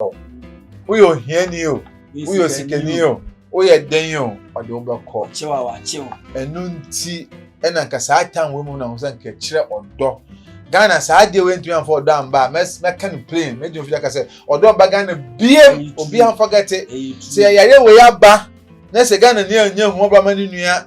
o woyɛ ohiani o woyɛ osikani o woyɛ dɛn o ɔde wo bɛkɔ ɛno nti ɛna nka saa tan wɔ mu na ho sɛ nka kyerɛ ɔdɔ ghana saa adeɛ wɔ ntumi anfa ɔdɔ amba a mɛka no plain mɛdi ofi aka sɛ ɔdɔ amba ghana bie obi anfa gɛte sɛ yɛyare wɔ yɛ aba na sɛ ghana ni anyɛ ho ɔba ma ne nua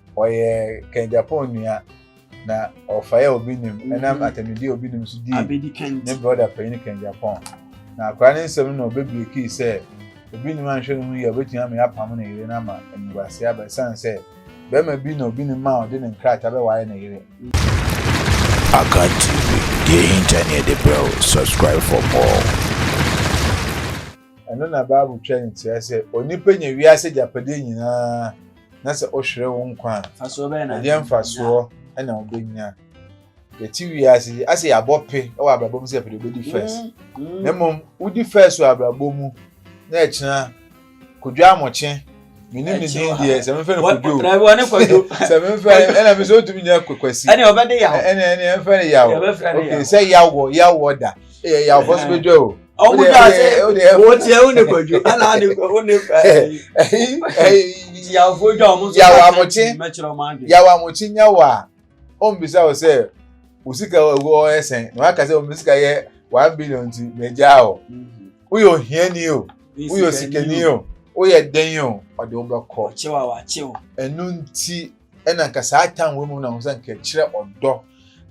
Ɔyɛ Ken Gyapong nua na ɔfae a obi nim mhm. ɛnam atamidi a obi nim so dii ne broda panyin Ken Gyapong. Na akora ne nsɛm no obebie kii sɛ obi nim anhwɛ ne ho yie a obetumi ama yɛapam ne yere no ama animguase aba ɛsiane sɛ bɛrima bi na obi nim a ɔde ne nkrataa bɛwae ne yere. Akan TV, deɛ ɛhinta ne ɛde brɛ wo. Subscribe for more. Ɛno na Bible twa ne tia sɛ onipa nya wiase agyapadeɛ nyinaa na sɛ ɔhwerɛ wo nkwa a, ɛdeɛ mfasoɔ na wobɛnya. Yɛte wiase yi, asɛ yɛabɔ pe wɔ abrabɔ mu sɛ yɛpɛ deɛ wobɛdi first. Mm, mm. Na mmom, wodi first wɔ abrabɔ mu, na ɛkyena kodwo amokye menim ne din deɛ sɛ memfɛ no kodwo sɛ memfɛ ɛna me sɛ ɔtumi nya kwasi ɛne ɔbɛde yaw ɛne ɛne ɛmfɛ no yaw ok sɛ yawɔ yawɔ da ɛyɛ yawfɔ so bɛdwa o ɔmo gya ase wò tiɛ wò ne kwadwo ɛna adi kɔ wò ne ɛyi tiafo gya ɔmo so yawa amokye mɛkyerɛ ɔmo adi yawa amokye nyawa a ɔmo bisa wò sɛ wò sika ɛwɔ ɔyɛ sɛn na waka sɛ ɔmo sika yɛ one billion ti na egya o woyɛ ohiani o woyɛ osikani o woyɛ den o ɔde wo bɛkɔ ɛnu nti. ɛna nka saa tan wɔ mu na ho sɛ nka kyerɛ ɔdɔ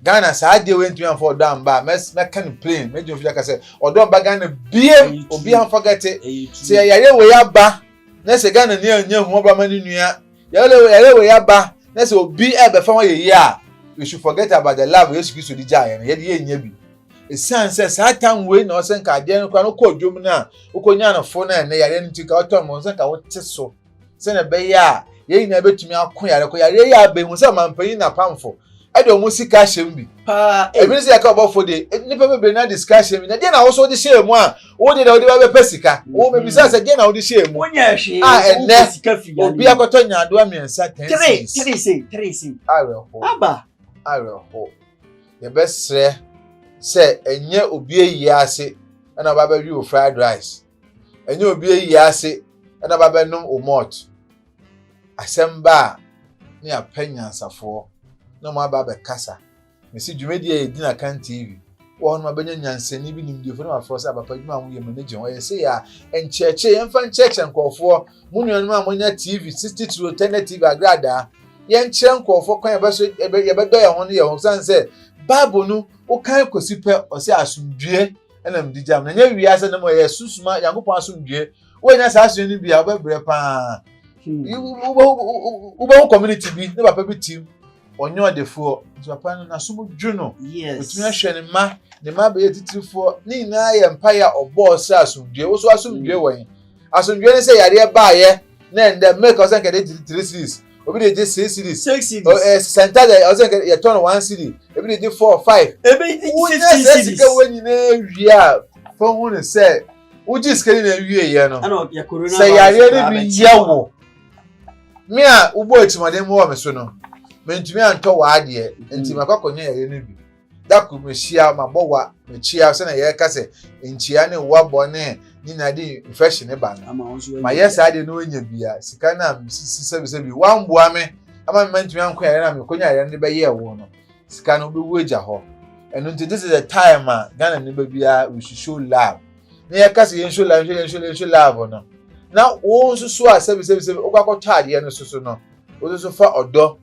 ghana saa adeɛ wɔ ntumi anfa ɔdɔ anba mɛka no plain mɛgyina firi aka sɛ ɔdɔ anba ghana biem obi anfa gɛte sɛ yɛyare wɔ yɛ aba na sɛ ghana ni anya hu ɔba ma ne nua yɛyare wɔ yɛ aba na sɛ obi ɛbɛfa ho ayɛ yie a we should forget about the love yesu kristo di gyaeɛ no yɛde yɛnya bi ɛsiane sɛ saa tam wei na ɔsɛ nka adeɛ no kora no kɔ dwom no a wokɔnya no fo no ɛnɛ yareɛ no nti ka wotɔ mmɔ sɛ nka wote so sɛnea ɛbɛyɛ a yɛn nyinaa bɛtumi ako yare kɔ yareɛ yɛ abɛn hu sɛ ɔmampanyin na pamfo ɛde wɔn sika ahyɛ mu bi paa ebi sɛ yɛka ɔbɔfo de e, nnipa bebree na de sika ahyɛ mu na deɛ na wɔso de hyɛ mu a wode na wode bɛbɛpɛ sika wɔn mebisa sɛ deɛ na wode hyɛ mu a ɛnɛ obi akɔtɔ nyaadoa mmiɛnsa ten series awerɛho awerɛho yɛbɛsrɛ sɛ ɛnyɛ obi ayie ase ɛna ɔba bɛwe wo fried rice Ɛnyɛ obi ayi ase na babɛnom wo malt. Asɛm ba a, na yɛapɛ nyansafoɔ na wɔn aba abɛkasa. Mesi dwumadi a yɛdi no Akan TV wɔ hɔ no mabɛnya nyansani bi nimdefoɔ na wafrɛ sɛ abapa adwuma a moyɛ m'ani gye ho. Ɛyɛ sei a, nkyerɛkyerɛ yɛmfa nkyerɛkyerɛ nkurɔfoɔ. Mo nuanom a monya TV, titire tɛnɛ TV agradaa, yɛnkyerɛ nkurɔfoɔ kwan a yɛbɛdɔ yɛn ho ne yɛn ho. Ɛsiane sɛ Bible no wokan kɔsi pɛ, ɔse asomdwoeɛ. ɛna mede gya mu na nyɛ wia sɛ ne mu ɛyɛ susuma nyankopɔn asomdue woanya saa asomdue no bi a wobɛbrɛ paa wobɛhu community bi ne papa bi tim ɔnyɛ ɔdefoɔ nti papa no nasom dwo no ɔtumi ahwɛ ne ma ne ma bɛyɛ titirifoɔ ne nyinaa yɛ mpaeɛ a ɔbɔɔ sɛ asomdue wo so asomdue wɔ he asomdue ne sɛ yareɛ baayɛ na ɛndɛ milk ɔsɛ nkɛde three series obi de gye six cedis six cedis ɔ ɛ santa de ɔsɛ nkɛ yɛ tɔn one cedi ebi de gye four five ebi de gye fifteen cedis wonyɛ sɛ sika wɔ nyinaa wie a fɛn ho ne sɛ wogye sika ne na wie yɛ no sɛ yareɛ ne bi yɛ wo me a wobɔ atirimaden mu wɔ me so no mentumi antɔ wɔ adeɛ nti makɔ akɔnya yareɛ ne bi. Da kor mehyia m'abɔwa mekyia sɛnea yɛreka sɛ nkyia ne wa bɔne nyina de infection ne ba no mayɛ saa deɛ na ɔnya bia sika no a mesisi sɛbisɛbi wamboa me ama mema ntumi anko yare no a mekonya yare no de bɛyɛɛ wo no sika no wobɛwu agya hɔ ɛno nti this is the time a Ghana ne ba biara we should show love na yɛka sɛ yɛnhwɛ love yɛnhwɛ love yɛnhwɛ love no na wo nso so a sɛbisɛbisɛbi wokɔ akɔtɔ adeɛ no so so no wo nso so fa ɔdɔ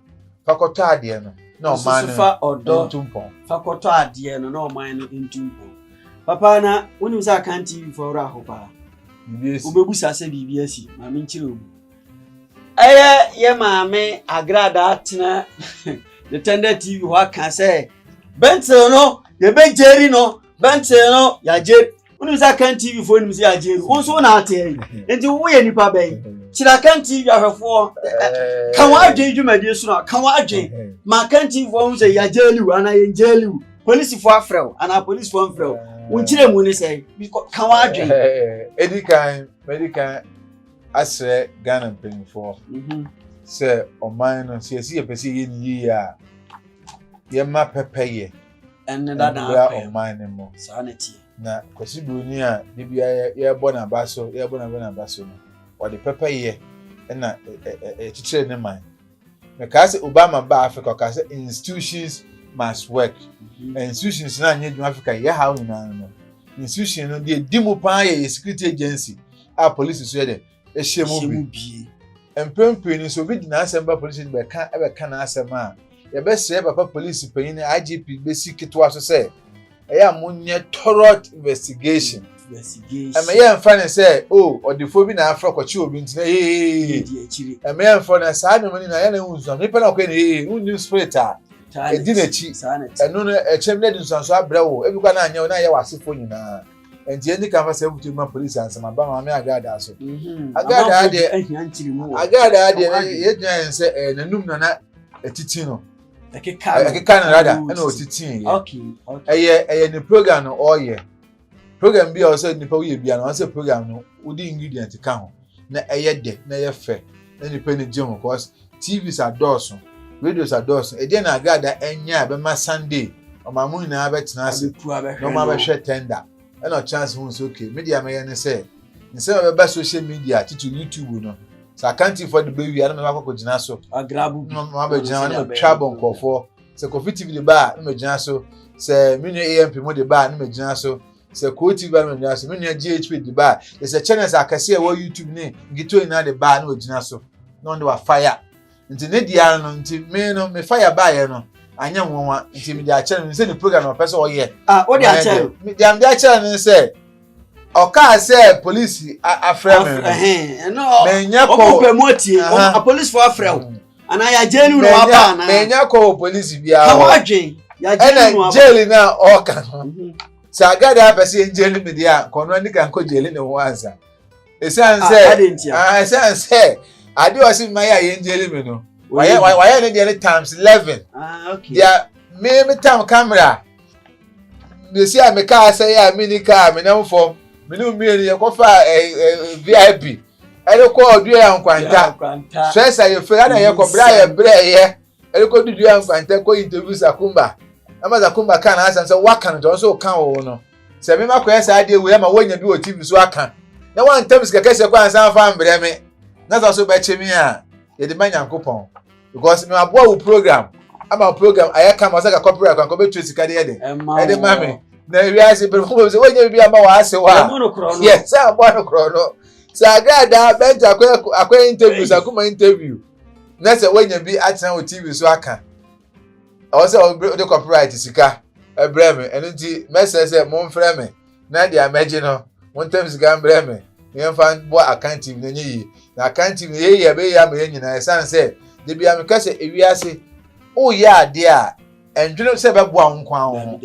Fa kɔtɔ adeɛ no na ɔman no fa ɔdɔ ntumpɔn. Fa kɔtɔ adeɛ no na ɔman no ntumpɔn. Papa na wonim sɛ akan TV fo awura ho paa. Wobɛbusa sɛ biribi asi ma menkyerɛ obi. Ɛyɛ yɛ maame agrada atena the tender TV hɔ aka sɛ bɛntere no yɛbɛgyeri no Bɛnkyere no yagye. Wonim sɛ Akan TV foɔ nim sɛ yagye no. Wo nso wo na ateɛ yi. Nti woyɛ nipa bɛn? Kyerɛ Akan TV ahwɛfoɔ. Ka wɔn adwene dwumadie so no. Ka wɔn adwene. Ma Akan TV foɔ ho sɛ yagye liw anaa yɛn gye liw. Polisifoɔ afrɛ wo anaa polisifoɔ mfrɛ wo. Wo nkyerɛ mu ne sɛ ka wɔn adwene. Edi kan, medi kan asrɛ Ghana mpanyinfoɔ mhm. sɛ ɔman no sɛ yɛsi yɛpɛ sɛ yɛyɛ ne yie a yɛma pɛpɛyɛ. ɛne dada mmra apɛ ɔman no mu saa na ɛteɛ na kwasi buroni a de bia yɛbɔ n'aba so yɛbɔ n'aba n'aba so no ɔde pɛpɛyɛ ɛna ɛkyekyere ne man mekaa sɛ obama ba africa ɔkaa sɛ institutions must work mm-hmm. institutions no anyɛ adwuma africa yɛ haw nyinaa no institution no deɛ di mu paa yɛ yɛ security agency a police so yɛ dɛ hyɛ mu bi. Mpɛn pii no, sɛ obi de n'asɛm ba polisi de bɛka bɛka n'asɛm a, yɛbɛsrɛ papa polisi panyin IGP besi ketewa so sɛ ɛyɛ a monyɛ thorough investigation. ɛmɛ yɛ nfa ne sɛ o oh, ɔdefoɔ bi na afra kɔkye obi ntina ee ɛmɛ yɛ nfa na saa nneɛma nyinaa yɛ na ehu nsuanso nipa na ɔkɔ ne ee ehu nim spirit a edi n'akyi ɛno no ɛkyɛm na ɛdi nsuanso abrɛ wo ebi kɔ na anyɛ wo na ayɛ wɔ asefoɔ nyinaa. Nti yɛn di kan fa saa abutu yi ma polisi ansa ma ba maame Agada so. Mhm. Agada ha deɛ ahia nkyiri mu wɔ. Agada ha deɛ yɛgyina yɛn sɛ ɛyɛ n'anum na na ɛtiti no. Ɛkeka no ɛkeka no rada ɛna ɔtiti yɛ. Okay. Ɛyɛ ɛyɛ ne program no ɔyɛ program bi a ɔsɛ nipa woyɛ bi a na ɔsɛ program no wodi ingredient ka ho. na ɛyɛ dɛ na ɛyɛ fɛ na nnipa ani gye ho cause TVs adɔɔso, radios adɔɔso. Ɛdeɛn na Agrada anya a ɛbɛma Sunday ɔman mu nyinaa bɛtena ase na wɔn abɛhwɛ tender? Ɛna ɔtena ase hu sɛ okay, me deɛ mɛyɛ ne sɛ nsɛm a ɛbɛba social media titiri YouTube no sɛ akantifoɔ de bɛwie a na mɛba akɔkɔgyina so mabɛgyina hɔ na matwa abɔ nkurɔfoɔ sɛ Kofi TV de ba a na magyina so sɛ me nua AMP mu de ba a na magyina so sɛ Koo TV ba no wɔgyina so me nua GHP de baa yɛ sɛ channels akɛse a ɛwɔ YouTube ne nketewa nyinaa de baa na wɔgyina so na wɔn de wa fire nti ne deɛ ara no nti me no me fire baayɛ no anyɛ nwanwa nti me de akyɛ no sɛ ne program na ɔpɛ sɛ ɔyɛ ah o de akyɛ no me de am de akyɛ no sɛ ɔkaa sɛ polisi afrɛ me no me nyɛ kɔ ɔpɛ mu atie apolisifoɔ afrɛ wo mm. anaa yɛagye no na waba anaa manya kɔ wɔ polisi biara ka wadwen yɛagye no waba jeli no a ɔka no mhm. sɛ agade apɛ sɛ yɛngyeli me deɛ a kɔno ani ka nkɔ gyeli ne ho ansa ɛsiane sɛ ah, ɛsiane sɛ adeɛ ɔse mma yɛ a yɛngyeli me no wayɛ ne deɛ ne times eleven ah, deɛ me me tam camera mesi a me kaa sɛ yɛ a me ni kaa me nam fam me ne mmienu yɛkɔfa vip ɛde kɔɔ dua nkwanta stress a yɛfiri ana yɛkɔ berɛ a yɛbrɛɛyɛ ɛde kɔ dua nkwanta kɔ interview sakumba ɛma sakumba ka n'asɛm sɛ woaka no nti ɔno nso woka wo no sɛ mema kɔyɛ saa adeɛ wei ama woanya bi wɔ tv so aka na woantam sika kɛseɛ kɔ ansa afa mbrɛ me na sɛ so bɛkye me a yɛde ma nyankopɔn because mi aboa wo program ama wo program ayɛ kama ɔsɛ ka copyright kwan kɔ bɛ tu sika de yɛ de ɛde ma mi na wiase pɛrɛ fún mi sɛ wọ́n nyɛ bibi ama wọ́n ase wa yɛ sɛ aboa no korɔ no sɛ agradaa bɛnti akɔ akɔ interview sɛ akoma interview na sɛ wọ́n nyɛ bi atena wɔ tv so aka ɔwɔ sɛ ɔde copyright sika ɛbrɛ mi ɛno nti mɛsɛ sɛ mo nfrɛ mi. na deɛ mɛgye no montam sika mbrɛ me na yɛmfa bɔ akantive no ɛnyɛ yie na akantive no yɛyɛ a bɛyɛ ama yɛn nyinaa ɛsiane sɛ da bia meka sɛ ewiase woyɛ adeɛ a ɛndwene sɛ bɛboa wo nkwa wo ho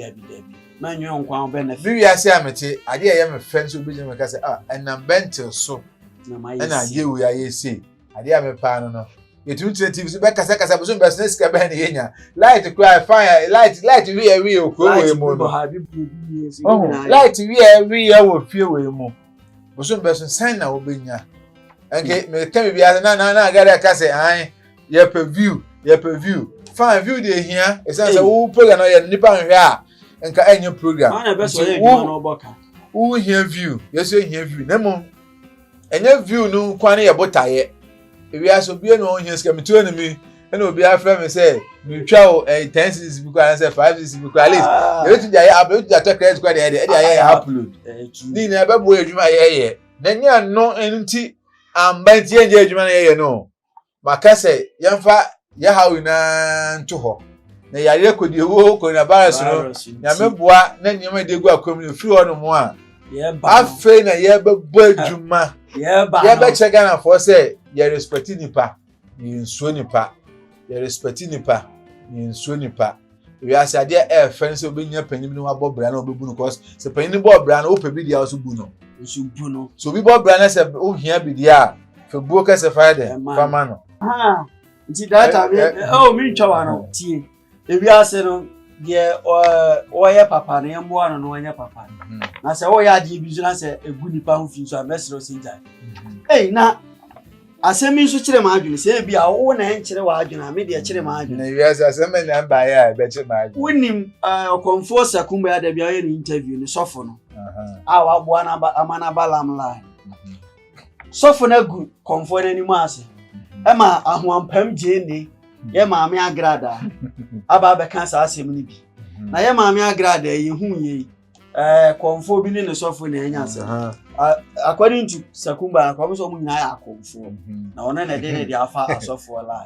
me wiase a mete adeɛ a ɛyɛ me fɛ nso wobɛgyina meka sɛ ah ɛnam bɛntel so ɛna adeɛ wei ayɛ sei adeɛ a mepaa no no yɛtumi tena tv so bɛkasakasa bosom bɛsena sika bɛn ne yɛnya light kora ɛfan light light wieɛ wieɛ wɔ kuro wei mu no ɔho light wieɛ wieɛ wɔ fie wei mu bosom bɛso sɛn na wobɛnya ɛnke meka biribi ase na na na agada ka sɛ an yɛpɛ view yɛpɛ view fan view deɛ hia ɛsiane sɛ wo program no yɛ nnipa nhwɛ a nka ɛnyɛ program wohia view yɛsɛ hia view na mmom ɛnyɛ view no nkwa ne yɛ botaeɛ ewiase obiara na ɔhia sika metuo ne mi ɛna obiara frɛ me sɛ metwa o ɛyɛ ten cedis bi koraa sɛ five cedis bi koraa at least yɛbɛtumi de ayɛ app yɛbɛtumi de atɔ credit koraa de ɛde ɛde ayɛ upload ne nyinaa ɛbɛboa adwuma yɛyɛ na nyɛ ano nti amba nti yɛnyɛ adwuma no yɛyɛ no Maka sɛ yɛmfa yɛ haw nyinaa nto hɔ. Na yareɛ kɔdi ewuo coronavirus no, Virus nti. nyame boa na nneɛma a yɛde agu akwan mu no ɛfiri hɔ nom a, Yɛba no. afei na yɛbɛbɔ adwuma. Yɛba no. Yɛbɛkyerɛ Ghanafoɔ sɛ yɛ respect nnipa na yɛnsuro nnipa. Yɛ respect nnipa na yɛnsuro nnipa. wiase adeɛ ɛɛfɛ no sɛ wobɛnya panyin bi na wabɔ bra na wobɛbu no cause sɛ panyin no bɔɔ bra no wopɛ bi deɛ so bu no nso bu no so obi bɔ bra no sɛ wohia bi deɛ a fɛ buo kɛsɛ fa yɛ dɛ fa ma no nti data bi ɛwɔ mi ntwa wa no tie ebi ase no deɛ ɔyɛ papa no yɛmmoa no no ɔnyɛ papa no mhm. na sɛ woyɛ adeɛ bi so na sɛ ɛgu nipa ho fi so a mɛserɛ sɛ gyae mhm. ei na Asɛm yi nso kyere m'adwene. Sɛ ebia wo na ɛnkyere w'adwene a, me deɛ ɛkyere m'adwene. Na wiase asɛm bɛn na ɛbaeɛ a ɛbɛkye m'adwene? Wonim eh, Ɔkɔmfoɔ Sakumba a da bi ɔyɛ ne interview no, sɔfo no a waboa no ama no aba lam line. Mhm. Sɔfo no agu kɔmfoɔ no anim ase mhm. ɛma ahoampam gyee ne mhm. yɛ maame agradaa aba abɛka saa asɛm no bi. Na yɛ maame agradaa yi hu yei ɛɛ kɔnfoɔ bi ne ne sɔfo na ɛnya asɛm according to sakumba na kɔn sɛ wɔn nyinaa yɛ akɔnfoɔ mhm. na wɔn na ɛde ne de afa asɔfoɔ la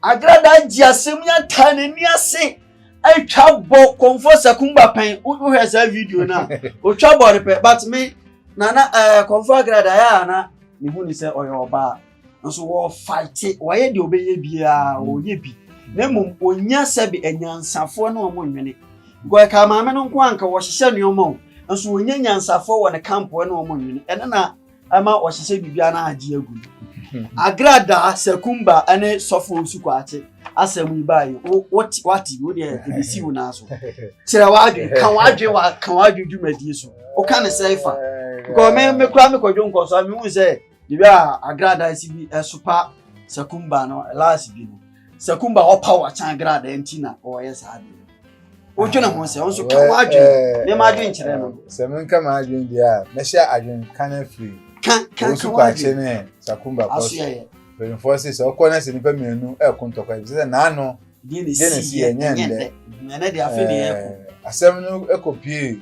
agrada gye asɛm yi ata n'ani ase atwa bɔ kɔnfoɔ sakumba pɛn wohwɛ saa video no a otwa bɔ no pɛ but me nana ɛɛ kɔnfoɔ agrada yɛ ana ne hu ne sɛ ɔyɛ ɔbaa nso wɔfaete wɔyɛ deɛ ɔbɛyɛ biara ɔyɛ bi na mmom ɔnya sɛbe anyansafoɔ ne wɔn nwene because ɛka maame no nko anka wɔhyehyɛ nneɛma o nso ɔnya nyansafoɔ wɔ ne kampoɔ ne wɔn nwene ɛno na ɛma ɔhyehyɛ biribiara na agye agu hmm. agrada sakumba ne sɔfo nsu kwaakye asɛm yi baa yi wote wate wo deɛ ebisi wo naa so kyerɛ wadwen ka wadwen wa ka wadwen dwumadie so woka ne sɛ fa because me me kura me kɔdwo nkɔsɔ a me hu sɛ. Bere a agradaasi bi resopa Sakumba no laase bi no, Sakumba ɔpaw akyen agradaa nti na ɔreyɛ saa ade no. Wodwene ho sɛ, wo nso ka w'adwene. Mema adwene kyerɛ no. Sɛ menka m'adwene deɛ a, mɛhyɛ adwene ka no afiri. Ka, ka, ka w'adwene. Wɔsu akye ne Sakumba kɔ so. Mpanimfoɔ se sɛ ɔkɔ na sɛ nnipa mmienu reko ntɔkwa, ɛfiri sɛ n'ano gye ne si yɛ nyɛ ndɛ. Ɛnɛ deɛ afe ne yɛko. Asɛm no kɔpie.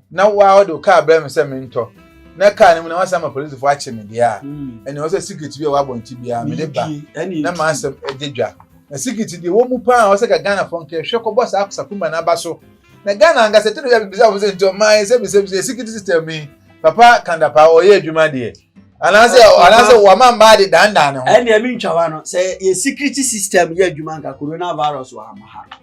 na waa ɔde wo kaa brɛ me sɛ mentɔ na kaa no mu na wasan ma polisifo akye me deɛ a hmm. ɛne ɔsɛ sikiriti bi a wabɔ nti biara mede ba na ma asɛm ɛde dwa na sikiriti deɛ wɔ mu paa ɔsɛ ka ghana fɔ nkɛhwɛ kɔbɔ saa akosakumba no aba so na ghana ankasa tiri yɛ bibisa fo sɛ nti ɔmaa yɛ sɛ bisɛ bisɛ sikiriti system yi papa kandapa ɔyɛ adwuma deɛ anaasɛ anaasɛ wama mmaa de dandan ne ho. ɛnna ɛmi ntwawa no sɛ yɛ security system yɛ adwuma nka coronavirus wɔ ama ha.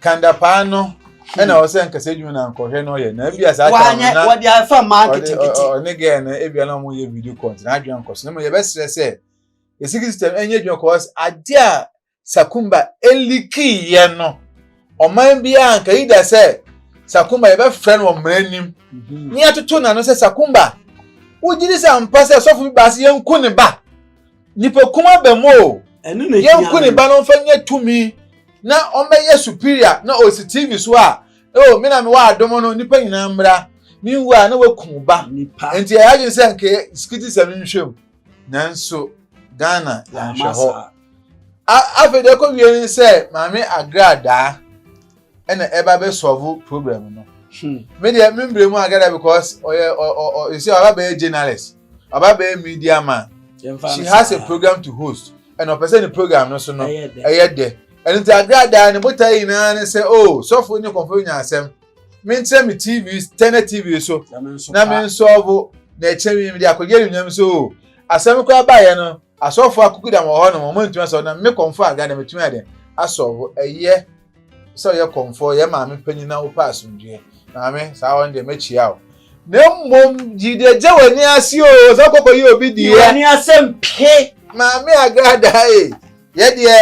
kandapaa no ɛna ɔsɛ nkasa edwuma na nkɔhwɛ no ɔyɛ na ebi asa ata no na wɔde afa maa nketenkete ɔne gɛɛ no ebi na wɔn yɛ video call ntina adwene nkɔ so na mo yɛ bɛsrɛ sɛ esiki system ɛnyɛ adwuma kɔ ɔsɛ adeɛ a sakumba eliki yɛ no ɔman bi a nka yi da sɛ sakumba yɛ bɛfrɛ no ɔmena anim mhm. ne yɛtoto n'ano sɛ sakumba wogyiri sɛ mpa sɛ sɔfo bi baase yɛn ko ne ba Nipa kum abam o. Yɛnku ne ba no mfa nyɛ tumi na ɔmmɛyɛ superior na ɔsi TV so a oh me na mewɔ adom no nipa nyinaa mmra menwu a na waku wo ba nti ɛyɛ adwene sɛ nka sikiti sɛ menhwɛ mu nanso Ghana yɛnhwɛ hɔ afei deɛ ɛkɔ wie ne sɛ maame agradaa ɛna ɛba bɛ solve problem no hmm. me deɛ me mbrɛ mu ankasa because ɔyɛ ɔ ɔ ɔ you see ɔba bɛyɛ journalist ɔba bɛyɛ media man she has a program to host ɛna ɔpɛ sɛ ne program no so no ɛyɛ dɛ ɛno nti agradaa ne botae nyinaa ne sɛ o oh, sɔfo ne kɔmfo nya asɛm menkyerɛ me tv tɛnɛ tv so na mensɔvo na ɛkyerɛ me mede akɔgye anuonyam so o oh, asɛm koraa baeɛ no Asɔfo akukudam wɔ hɔ nom ɔmo ntumi asɔ na me kɔmfo a na metumi ayɛ dɛn asɔ wo ɛyɛ sɛ ɔyɛ kɔmfo ɔyɛ maame panyin na wopɛ asomdwie maame saa wɔn deɛ mɛkyia wo na mmom gyi deɛ gye w'ani ase o sɛ ɔkɔkɔ yɛ obi deɛ w'ani ase mpe maame agrada ee yɛ deɛ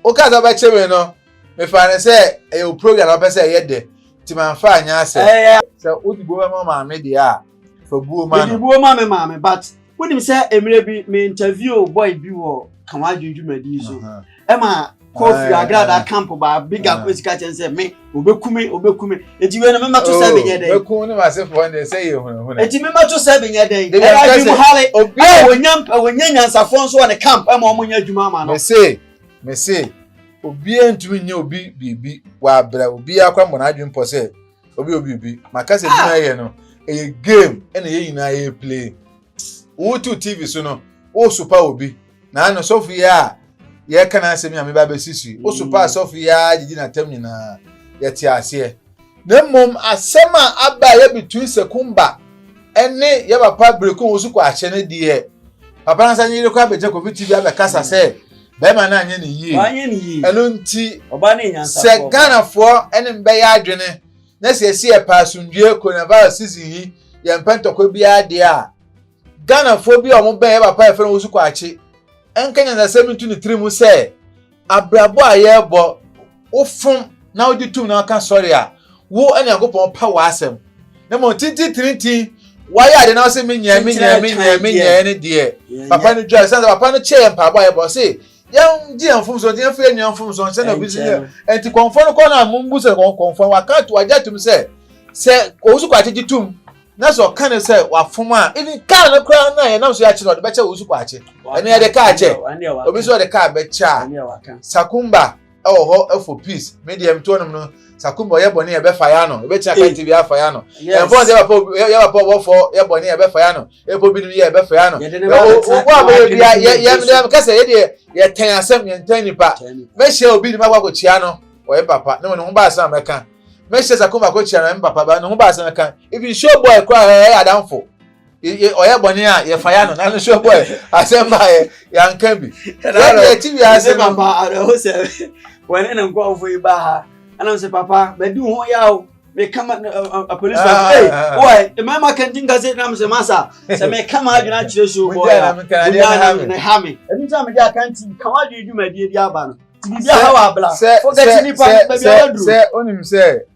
woka sɛ ɔbɛkye me no mefa ne sɛ ɛyɛ o program na ɔpɛ sɛ ɛyɛ dɛ nti manfa anyɛ asɛ sɛ wode bo bɛma maame deɛ a fa buo ma no buo ma me maame but wonim sɛ mmerɛ bi me interview boy bi wɔ ka ho adwene dwumadi so ɛma kɔfi agrada camp baa biga ko sika kyɛn sɛ me obɛkume obɛkume nti wei no memɛto sɛ oh, menyɛ dɛn mɛkum ne masefoɔ ne sɛ yɛ hunahuna nti memɛto sɛ menyɛ dɛn ɛyɛ adwum hale a wɔnya nyansafoɔ nso wɔ ne camp ɛma ɔmo nyɛ adwuma ama no mese mese obiara ntumi nyɛ obi biribi wɔ abrɛ obiara kora mmɔ n'adwene pɔ sɛ obi obi obi maka sɛ adwuma yɛ no ɛyɛ game ɛna yɛn nyinaa yɛ play wotu tv so no wosopa obi na ano sɔfo yi a yɛka no asɛm yi a meba bɛsisi wosopa mm. asɔfo yi a gyegye n'atam nyinaa yɛte aseɛ na mmom asɛm a aba a yɛbɛtu sɛkumba ɛne yɛ papa bereko wo so kɔ ahyɛ no deɛ papa no sɛ ne yere kɔ abɛgya covid tv abɛkasa sɛ bɛrima no anyɛ ne yie wanyɛ ne yie ɛno nti ɔbaa no yɛ nyansafoɔ sɛ paa. ghanafoɔ ɛne me bɛyɛ adwene na sɛ yɛsi yɛpɛ asomdwoeɛ coronavirus season yi yɛmpɛ ntɔkwa biara deɛ a ghanafoɔ bi a wɔn bɛn yɛ papa a yɛfrɛ no wosu kwaakye ɛnka nyansasɛm nto ne tiri mu sɛ abrabɔ a yɛrebɔ wofom na wogye tom na woka sɔre a, wo ne Nyankopɔn pa w'asɛm. Na mmom tententirintin wayɛ ade na ɔsɛ menyɛ menyɛ menyɛ menyɛ ne deɛ papa no dwa sɛ papa no kyɛ yɛn mpaebɔ a yɛbɔ se yɛngye yɛn mfomso nti yɛmfa yɛn nua mfomso nkyɛ na obi si yɛ nti kɔnfɔ no kɔ na mumbu sɛ kɔnfɔ waka ato wagye atom sɛ sɛ owusu kwakye gye tom na sɛ ɔka ne sɛ wafom a even kaa no koraa na yɛnam so yɛakye no ɔde bɛkyɛ owusu kwakye ɛne yɛde kaa kyɛ obi nso ɔde kaa bɛkyɛ a sakumba ɛwɔ hɔ ɛfɔ peace mi deɛ mi tɔn nom no sakumba ɔyɛ bɔnne yɛ bɛ fa ya no ebi tia kan tv afa ya no ɛnfɔn sɛ yɛbɛpɔ yɛbɛpɔ wɔfɔ yɛ bɔnne yɛ bɛ fa ya no epo binom yɛ bɛ fa ya no wɔ abɛyɛ bi yɛ yɛ yɛ kɛsɛ yɛ deɛ yɛ tɛn asɛm yɛ ntɛn nipa mɛ hyɛ obi nim akɔ akɔ kyia no ɔyɛ papa ne wɔn ne ho ba asɛm mɛ kan mɛ hyɛ sakumba akɔ kyia no ɛyɛ papa ba ne ho ba asɛm mɛ kan ebi show boy kora ɛyɛ adanfo. ɔyɛ bɔne a yɛfa ya no nano nso bɔɛ asɛm baeɛ yɛanka bi yɛne ɛti wiase no papa awerɛho sɛ wɔne ne nkɔɔfo yi ba ha ɛnam sɛ papa bɛdi ho yɛ o meka ma apolisi wɔ mmarima kɛnti nka sɛ nam sɛ masa sɛ meka ma adwene akyerɛ so bɔɛ ne ha me ɛno nti a mede akanti ka wadwene dwumadie bi aba no biribi aha wɔ abla fo kɛte nipa baabi a waduro sɛ wonim sɛ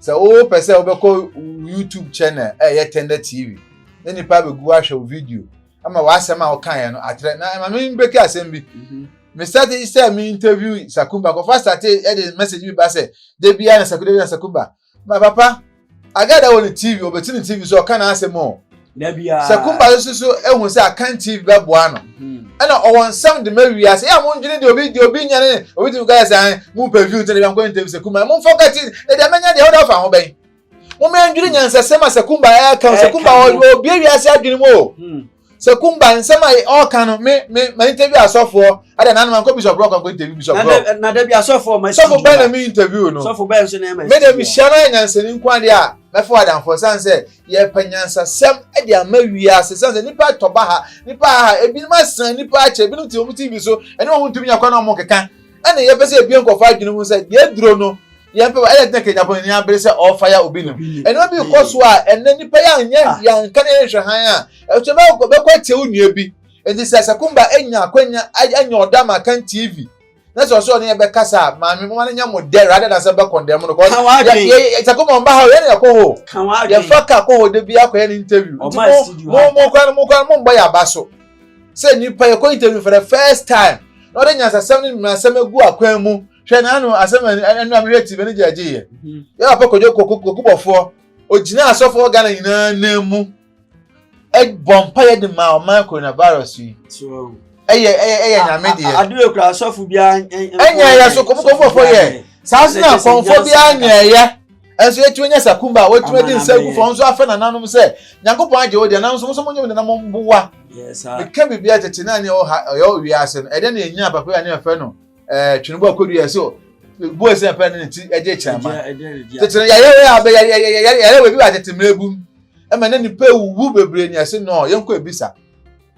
Sɛ wopɛ sɛ wobɛkɔ YouTube channel a ɛyɛ Tender TV na nipa abɛgu ahwɛ wo video ama w'asɛm a wokaeɛ no atrɛ na ɛma me mbɛki asɛm bi mhm. me starte sɛ me interview Sakumba kɔfa starte ɛde message bi ba sɛ da biara na Sakumba da biara na Sakumba ma papa agada wɔ ne TV ɔbɛti ne TV so ɔka n'asɛm o Sɛ Kumba no susu ehu sɛ Akan TV bɛboa no, ɛna ɔwɔ nsɛm de ma wiase. Yɛ a mondwene deɛ obi deɛ obi nya ne obi tumi ka sɛ an mo pɛ view nti na biankɔ ntɛm sɛ Kumba. Mo mfɔ kati na deɛ mɛnya deɛ ɔda fa ho bɛn. Mo mɛ ndwene nyansasɛm a sɛ Kumba ɛka o sɛ Kumba obie wiase adwene mu o. Sɛ Kumba nsɛm a ɔka no me me ma interview asɔfoɔ ada na anoma nkɔ bishop rock nkɔ interview bishop rock. Na da bi asɔfoɔ ma sɔfo bɛn na me interview no. Sɔfo bɛn nso na ɛma. Me de mehyia no ayɛ nyansani nko adeɛ a mɛfɔ adanfoɔ san sɛ Yɛrepɛ nyansasɛm de ama wiase. Esiane sɛ nnipa tɔ baha, nnipa haha, ebinom asan, nnipa akyɛ, ebinom te wɔn TV so, ɛne wɔn ntumi nya kwan na wɔnkeka. Ɛna yɛpɛ sɛ yɛbue nkurɔfo adwene mu sɛ deɛ aduro no, yɛmpɛ wɔ ɛna ɛtena Kenyapɔn n'ani abere sɛ ɔrefaya obi no. Ɛno bi kɔ so a ɛnɛ nnipa yɛ anyɛ yɛanka na yɛnhwɛ hann a ɛtɔ bɛkɔ bɛkɔ atia wo nua bi. Enti sɛ Sakumba anya akwanya anya ɔdɔ ama kan TV na sɛ ɔsɛ ɔne yɛ bɛkasa a maame moma no nyɛ mo dɛ rather than sɛ bɛkɔndɛm no kɔ sakoma ɔmba ha o yɛne yɛkɔ hɔ yɛfa ka kɔ hɔ da bi akɔyɛ no interview nti mo mo kora no mo kora no mombɔ yɛ aba so sɛ nipa yɛkɔ interview for the first time na ɔde nyansasɛm ne mmaransɛm agu akwan mu hwɛ na ano asɛm ɛnu a mehwɛ tv ne gyaagye yɛ yɛ papa kɔdwo kɔkubɔfoɔ ogyina asɔfoɔ ghana nyinaa nan mu bɔ mpaeɛ de ma ɔman coronavirus yi ɛyɛ ɛyɛ ɛyɛ nyame deɛ adeɛ kura asɔfo bi ɛnyɛ ɛyɛ so kɔmɔkɔmɔfo yɛ saa so na kɔmfo bi anyɛ ɛyɛ ɛnso yɛtumi nyɛ sakumba a wɔtumi de nsa gu fam nso afɛ nananom sɛ nyankopɔn agye wo deɛ nanso mo nso mo nyɛ mo nana mo mboa meka biribi a tete na ne ɔha ɔyɛ owie ase no ɛdɛ na yɛnya papa yi a ne yɛfɛ no ɛɛ twene bɔ akodu yɛ so bu ɛsɛ pɛ ne ne ti ɛgye kyerɛ ma tete yɛyɛ wei a bɛ yɛyɛ wei bi wɔ atete mmerɛ bu mu ɛma na nnipa awuwu bebree ne ɛse no yɛnkɔ abisa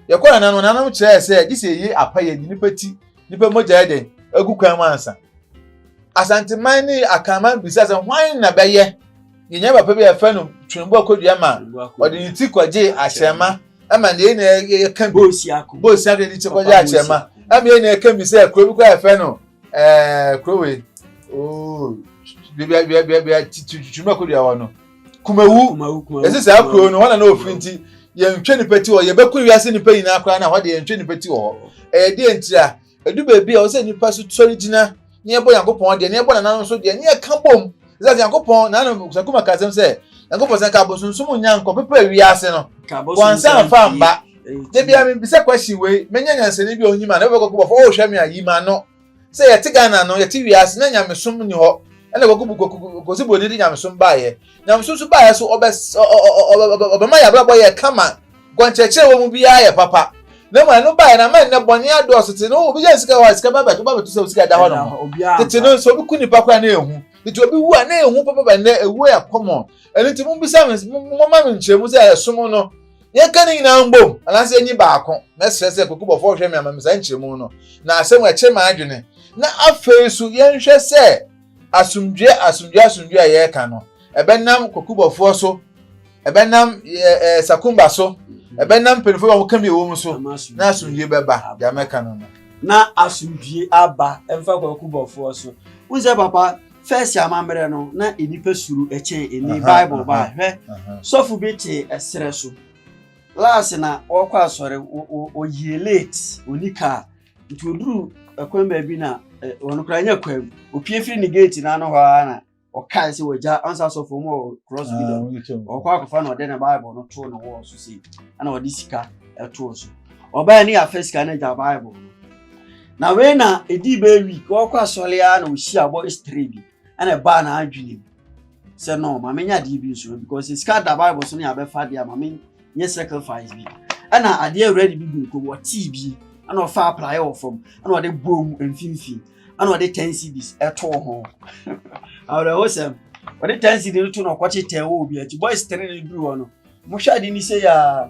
yɛkɔ nana no nana no kyerɛɛ sɛ gye sɛ ɛyi apa yɛ nnipa ti nnipa mogya yɛ dɛn agu kwan mu ansa asanteman ne akanman bisa sɛ hwan na bɛyɛ yɛnya papa bi a yɛfɛ no twembo akɔdua ma ɔde ne ti kɔgye akyerɛma ɛma ne yɛ na yɛka bi bɔɔsi akɔdua ne ti kɔgye akyerɛma ɛma yɛ na yɛka bi sɛ kuro bi kɔ a yɛfɛ no ɛɛ kuro wei ooo bia bia bia bia twembo akɔdua hɔ no kumawu ɛsi saa kuro no hɔ na na ofiri nti yɛntwe nipa ti wɔ yɛbɛko wiase nipa nyinaa koraa na hɔ de yɛntwe nipa ti wɔ hɔ ɛyɛ deɛ ntira edu beebi a ɔsɛ nipa so sɔre gyina ne ɛbɔ yankopɔn deɛ ne ɛbɔ nananom nso deɛ ne ɛka bom ɛsɛ yankopɔn nananom sakuma kasɛm sɛ yankopɔn sɛ nka abosonsom nya nkɔ pepɛ wiase no wansa nfa mba debi a mi bisa question wei menya nyansani bi a onyima na ɛbɛkɔ kɔ bɔfo ɔhwɛ mi a yima no. sɛ yɛte ghana no yɛte wiase na nyamesom ni hɔ ɛna kɔkubu kɔsi buroni de nyamesom baayɛ nyamesom so baayɛ so ɔbɛ ɔbɛma yɛ abrabɔ yɛ kama gɔnkyerɛkyerɛ wɔ mu biara yɛ papa na mu ɛno baayɛ na ama ɛnɛ bɔne adɔɔso te no obi yɛ sika hɔ sika ba bɛto ba bɛto sɛ sika da hɔ nom tete no nso obi ku nipa koraa na ehu tete obi wu a na ehu papa bɛ nnɛ ewu yɛ kɔmɔ ɛno nti mo bisa mo mo ma me nkyerɛ mu sɛ ɛsom no Nea ɛka ne nyinaa mbom, anaasɛ enyi baako, mɛsrɛ sɛ kwekubɔfo nhwɛ me ama me saa nkyerɛmu no, na asɛm a ɛkyere m'adwene, na afei nso yɛnhwɛ sɛ asomdwoe, asomdwoe, asomdwoe a yɛreka no, ɛbɛnam kwekubɔfoɔ so, ɛbɛnam ɛɛ eh, sakumba so, ɛbɛnam mpanyinfoɔ a wɔka bi ɛwɔ mu so, na asomdwoe bɛba, deɛ mɛka no no. Na asomdwoe aba, ɛmfa kwekubɔfoɔ so. Wohu sɛ papa, First amammerɛ no, na nnipa suro kyɛn ɛni. Bible baa hwɛ, sɔfo bi te ɛserɛ so. Last na ɔkɔ asɔre, ɔyie late, ɔni kaa. Nti ɔduru ɛkwan baabi na ɔno koraa nya kwan mu. Ɔpie firi ne gate no ano hɔ ara na ɔkae sɛ wagya ansa asɔfo mu wɔ cross bi da. Ɔkɔ akɔfa na ɔde ne Bible no too ne wall so sei, ɛna ɔde sika ɛtoo so. Ɔbaa ni afɛ sika no agya Bible no. Na wei na ɛdii bɛyɛ week ɔkɔ asɔre ara na ɔhyia abɔ history bi ɛna ɛbaa na adwene mu sɛ no ma menya adeɛ bi nso because sika da bible so ne abɛfa adeɛ a ma menyɛ sacrifice bi ɛna adeɛ awura de bi gu nkom ɔtee bi ɛna ɔfa apraeɛ wɔ fam ɛna ɔde bɔɔ mu mfimfini ɛna ɔde ten cedis ɛtoo ho awerɛho sɛm ɔde ten cedis no to na ɔkɔkye tɛn wɔ obi akyi boys tene no duru hɔ no mohwɛ ade ni sɛ yɛa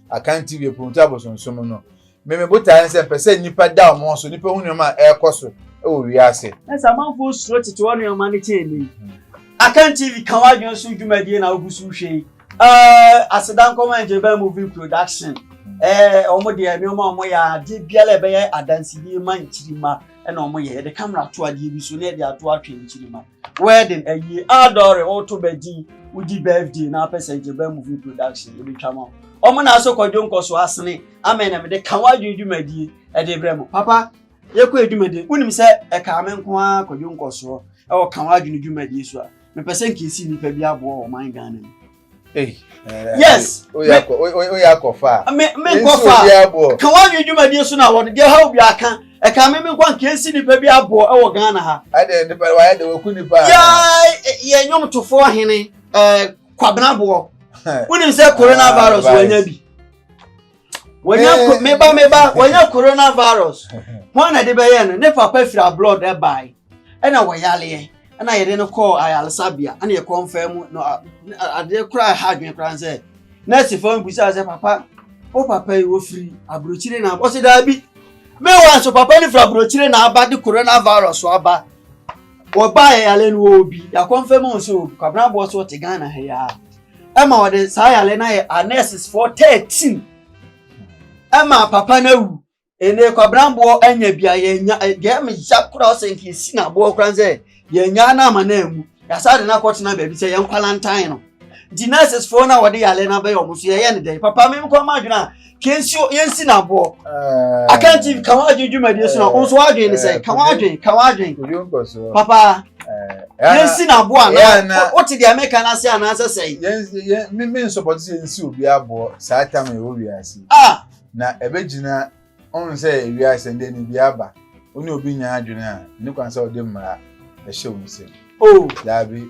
Akan TV Apurutu Abosonsom no. Me me botae ne sɛ mpɛ sɛ nnipa da wɔn ho so, nnipa hu nneɛma a ɛrekɔ so wɔ wiase. Na sɛ amanfoɔ suro tete hɔ nneɛma no kyɛn nnɛ yi. Akan TV ka w'adwene so dwumadie na wogu so hwɛ yi. Eh, aseda nkɔma Ngyebaa Movie Production. Eh, wɔn deɛ nneɛma a wɔyɛ a, adeɛ biara a ɛbɛyɛ adansedie ma nkyirimma na wɔyɛ. Yɛde camera to adeɛ bi so na yɛde ato atwɛn nkyirimma. wedding awie adɔre ɔto bɛ din wodi birthday na apɛ sɛ nkyɛ bɛ movie production ebetwa ma ɔmo na asɔ kwadwo nkɔso asene amɛn na mede ka wadwene dwumadie ɛde brɛ mo papa yɛkɔ adwumadie wonim sɛ ɛkaa me nko ara kwadwo nkɔsoɔ ɛwɔ ka wadwene dwumadie so a mepɛ sɛ nkeesi nnipa bi aboa wɔ ɔman Ghana mu yes oyɛ akɔfa a me nkɔfa ka woanwe dwumadie so na wɔde deɛ ha obi aka ɛka me me nkɔ nka ɛnsi nnipa bi aboɔ ɛwɔ ghana ha ɛdeɛ nipa wayɛ de wɔku nipa yɛ nnwomtofoɔ hene kwabenaboɔ wonim sɛ coronavirus wanya bi wɔnya eh. meba meba wɔnya coronavirus wɔn na de bɛyɛ no ne papa firi abroad ɛbae ɛna wɔyaleɛ ɛna yɛde no kɔɔ ayaresabea ɛna yɛkɔ mfɛn mu na adeɛ koraa ha adwene koraa sɛ nɛɛsi fɔm bisa sɛ papa o papa yi wɔfiri aburokyire na ɔsi daabi mewa nso papa no firi aburokyire na aba de coronavirus aba wɔba ayɛyale no wɔ obi yakɔ mfɛn mu nso kwabena boɔ so ɔte ghana ha yi ara. ɛma wɔde saa yare no ayɛ anɛsesfoɔ thirteen ɛma papa no awu ɛnna kwabranboɔ anya bi a yɛnya deɛ ɛma ya koraa sɛ nka esi na aboɔ koraa sɛ yɛnya no ama no amu yasa de no akɔtena baabi sɛ yɛn kwalantan no nti nɛsesfoɔ no a wɔde yare no abɛyɛ wɔn so yɛyɛ no dɛn papa mi nkɔ ma adwene a kensuo yɛnsi no aboɔ akanti ka ho adwene dwumadie so na wo nso woadwene ne sɛ ka ho adwene ka ho adwene papa yɛnsi no aboɔ anaa wote deɛ meka no ase anaasɛ sɛe me nsɔpɔte sɛ yɛnsi obi aboɔ saa tam a ɛwɔ wiase ah! na ɛbɛgyina ɔhu sɛ wiase ɛndeɛ ne bi aba wo ne obi nya adwene a ne kwan sɛ wode mmara ɛhyɛ wo nsɛm Oh. Dabi.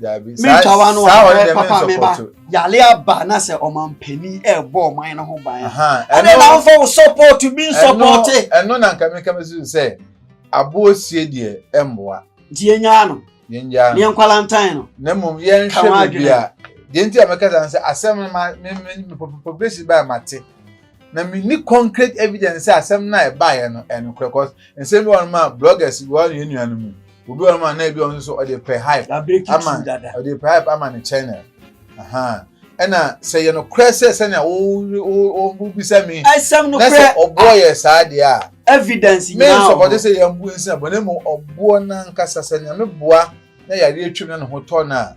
Dabi. Saa saa wɔn deɛ mi nsɔpɔtɔ. Yale aba na sɛ ɔmanpanin ɛɛbɔ ɔman no ho ban. Ɛna na nfa wo support bi nsɔpɔte. Ɛno na nka mi ka mi si sɛ aboɔ sie deɛ ɛmboa. Nti yɛn nyaa no. Yɛn nyaa no. Ne yɛn nkwalantan no. Na mmom yɛn hwɛ baabi a deɛ nti a mi kasa sɛ asɛm no ma mi mi mi population baa ma te na mi ni concrete evidence sɛ asɛm no a ɛbaayɛ no ɛnokorɛ cause nsɛm bi wɔ hɔ no ma bloggers bi wɔ hɔ no yɛn nua no mu. obi wɔ hɔ ma na ebi ɔno nso ɔde pɛ hype ama ɔde pɛ hype ama ne channel ɛna sɛ yɛ nokorɛ sɛ sɛnea wobisa mi na sɛ ɔboɔ yɛ saa deɛ a evidence nyinaa wɔ hɔ me nsɔpɔte sɛ yɛn bu nsina bɔ ne mu ɔboɔ nankasa sɛ nea me boa na yareɛ twam na ne ho tɔ no a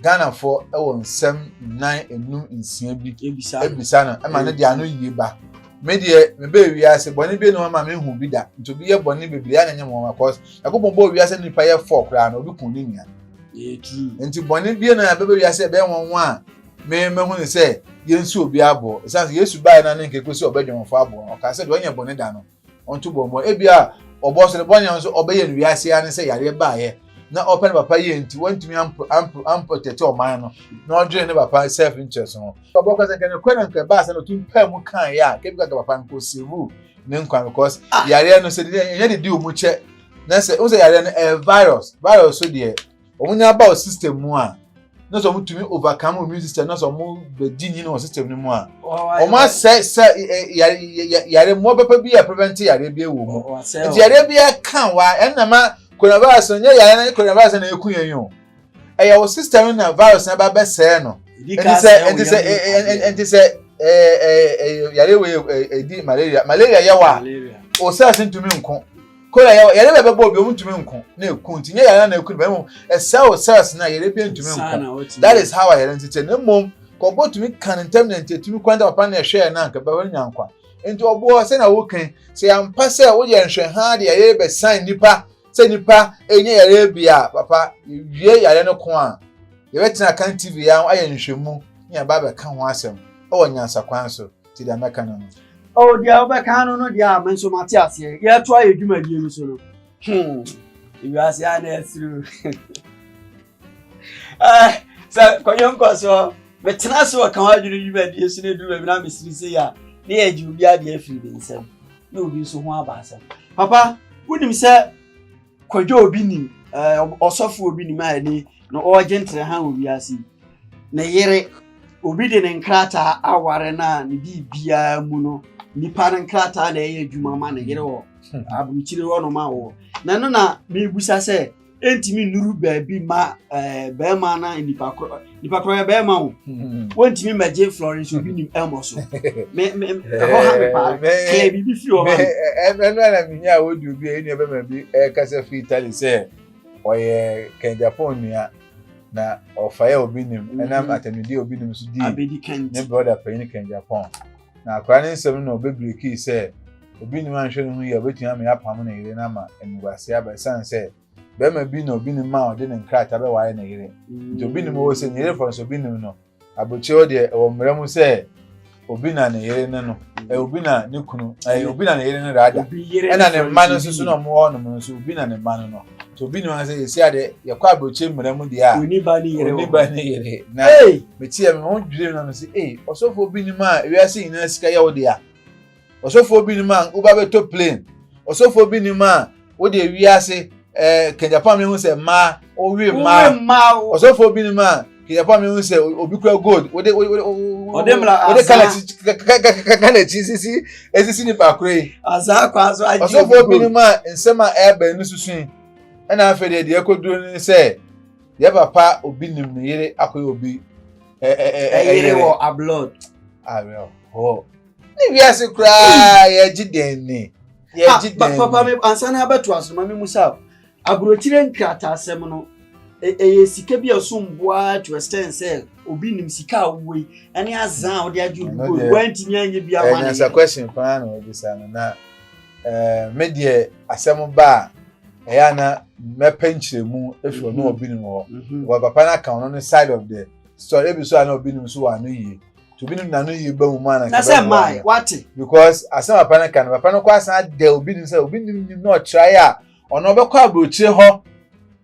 ghanafoɔ wɔ nsɛm nnan enum nsia bi ebisa no ɛma ne deɛ ano yie ba me deɛ mebɛ wiase bɔne bi ne hɔ ma mehu bi da nti obi yɛ bɔne bebree a na nyɛ mɔma cause ɛkɔpɔn bɔ wiase nipa yɛ fɔ koraa na obi kun ne nua nti bɔne bi na ɛbɛbɛ wiase ɛbɛyɛ wɔn ho a me mehu ne sɛ yɛnsi obi aboɔ ɛsiane sɛ yesu baeɛ no ne nkɛkɔ sɛ ɔbɛdwɔmfoɔ aboɔ ɔka sɛ deɛ ɔnyɛ bɔne da no Ɔnto bɔ mmɔ. Ebia ɔbɔ so no, bɔne a ɔno nso ɔbɛyɛ no wiase yi ara ne sɛ yareɛ baeɛ na ɔpɛ ne papa yie nti wantumi amprotɛte ɔman no na ɔdwene ne papa self interest ho. Ɔbɔ ka sɛ nka nokorɛ na nka ɛbaa sɛ na ɔtumi paa mu kaeɛ a nka bi ka nka papa no nka ɔsave ne nkwa because yareɛ no sɛ ɛnyɛ de di ɔmu kyɛ na sɛ wohu sɛ yareɛ no ɛyɛ virus virus so deɛ wɔn nyinaa ba wɔ system mu a na sɛ wɔn tumi overcome immune system na sɛ wɔn bɛdi nyini wɔ system no mu a wɔn asɛ sɛ yare yare mmoa papa bi a prevent yare bi wɔ mu nti yare bi ka wa ɛnna ma coronavirus no nyɛ yare na coronavirus na eku yɛn yi o ɛyɛ wɔ system no na virus na ba bɛsɛɛ no nti sɛ nti sɛ nti sɛ ɛɛ ɛɛ yare wɔ ɛdi malaria malaria yɛ wɔ a o cells ntumi nko. Koro a yɛwɔ, yare bi a ɛbɛbɔ obi a ɔntumi nko na eku nti, nyɛ yare no na eku nipa no, mmom ɛsɛe wo cells no a yare biara ntumi nko. That is how ayare no te te, na mmom kɔbɔ tumi ka no ntɛm na nti etumi kwan nti papa no na ɛhwɛɛ no a nka bɛbɛ no nya nkwa. Nti ɔboɔ sɛnea wokan sɛ yɛampa sɛ woyɛ nhwɛha de yare bɛsan nnipa sɛ nnipa ɛnyɛ yare bi a papa yɛwie yare no ko a yɛbɛtena kan TV yɛ ayɛ nhwɛmu na yɛba abɛka ho asɛm ɛwɔ nyansakwan so. nti deɛ mɛka no no. o oh, deɛ wobɛka no no deɛ a me nso mate aseɛ yɛto ayɛ dwumadie no so no hmm. wiase a na ɛsiri eh, sɛ kɔnyɛ nkɔ soɔ metena so ɔka ho adwene dwumadie so no aduru baabi na mesiri sɛ yɛ a ne yɛ agye obi adeɛ afiri ne nsam na obi nso ho aba asɛm papa wonim sɛ kwadwo obi nim ɔsɔfo obi nim a ɛne na ɔregye ntere ha wɔ wiase ne yere obi de ne nkrataa aware no a ne biribiara biara mu no nipa no nkrataa na ɛyɛ adwuma ma ne yere wɔ hmm. aburukyire hɔ nom awɔ na ɛno na mebusa sɛ ɛntumi nnuru baabi ma bɛrima na nipa korɔ nipa koro yɛ bɛrima o hmm. wɔntumi mɛgye florence obi nim ɛmɔ so mɛ mɛ ɛhɔ ha mi paa kɛlɛ biribi fi ɔma mi. ɛnu ɛna mi nya awo di obi ɛnu ɛbɛ mɛ bi ɛkasa fi italy sɛ ɔyɛ kɛn japan nua na ɔfa yɛ obi nim hmm. ɛnam atɛnudie obi nim so di ne broda panyin kɛn japan na akora ne nsɛm na ɔbɛ biriki sɛ obi nim anhwɛ ne ho yɛ obetumi ama yɛ apam ne yere na ama ɛnuguase aba ɛsan sɛ. bɛrima bi na obi nim ma ɔde ne nkrataa bɛware ne yere nti obi nim wɔ sɛ ne yere fɔ nso obi nim no aburokyerɛ hɔ deɛ ɛwɔ mmerɛ mu sɛ obi na ne yere ne no ɛ obi na ne kunu ɛ obi na ne yere ne rada ɛna ne mma no nso so na wɔn wɔ hɔnom no nso obi na ne mma no no nti obi nim sɛ esi adeɛ yɛkɔ aburokyerɛ mmerɛ mu deɛ a oni ba ne yere oni ba ne yere na metia mi ho dwiri mi na mi si ee ɔsɔfo obi nim a ewiase nyinaa sika yɛ wo deɛ a. ɔsɔfoɔ bi nim a woba bɛtɔ plane ɔsɔfoɔ bi nim a wode wiase ɛɛ kanyapam ne ho sɛ mmaa wowe mmaa ɔsɔfoɔ bi nim a kanyapam ne ho sɛ obi kura gold wode wode wode kala kala akyi sisi esisi nipa koro yi ɔsɔfoɔ bi nim a nsɛm a ɛɛbɛn no susu yi ɛna afei deɛ deɛ ɛkɔduro ne sɛ yɛ papa obi nim ne yere akɔyɛ obi ɛyere wɔ ablɔd awerɛhoɔ. ne wiase koraa yɛgye dɛn ni yɛgye dɛn ni. papa mi ansa na abɛto asoma mi mu sa aburokyire nkrataasɛm no ɛyɛ sika bi a ɛsom boa to extend sɛ obi nim sika a wowɔ yi ɛne azan a wɔde agye obi bɔ yi wɔntumi anyɛ bi ama ne yɛ. ɛnyɛ question paa na wɔbisa no na ɛɛ me deɛ asɛm ba a ɛyɛ ana mɛpɛ nkyerɛmu efi ɔno obi nim hɔ wɔ papa no aka ɔno ne side of the story ebi so ana obi nim so wɔ ano yie. nti obi no na no yɛ ba mu maa na nka bɛn mu ayɛ wate because asɛm papa no ka no papa no kɔ asan adɛ obi nim sɛ obi nim nim na ɔkyerɛ ayɛ a ɔno ɔbɛkɔ aburokyire hɔ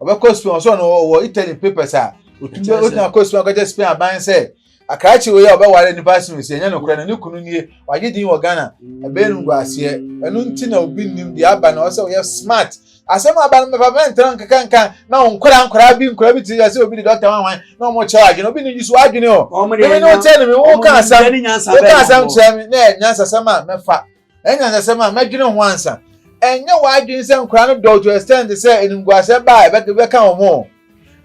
ɔbɛkɔ spain ɔsɔ no ɔwɔ italy papers a otumi bɛ otumi akɔ spain akɔgye spain aban sɛ akrakye wei a ɔbɛware nipa asen osi ɛnyɛ no korɛ na ne kunu nie wagye din wɔ ghana ɛbɛyɛ no ngu aseɛ ɛno nti na obi nim deɛ aba na ɔsɛ ɔyɛ smart Asɛm a aba no mɛfa mɛntra nkeka nka na wɔn nkwadaa nkwadaa bi nkwadaa bi te sɛ obi de dɔkta wɔn ahwan na wɔn kyerɛ adwene obi ne yi so adwene o. Mɛmɛ ne o kyerɛ ne mi wo ka asɛm wo ka asɛm kyerɛ mi na ɛnyɛ nsasɛm a mɛfa ɛnyɛ nsasɛm a mɛdwene ho ansa ɛnyɛ w'adwene sɛ nkwadaa no dɔɔ to extend sɛ enimguasɛ baa ɛbɛka wɔn o.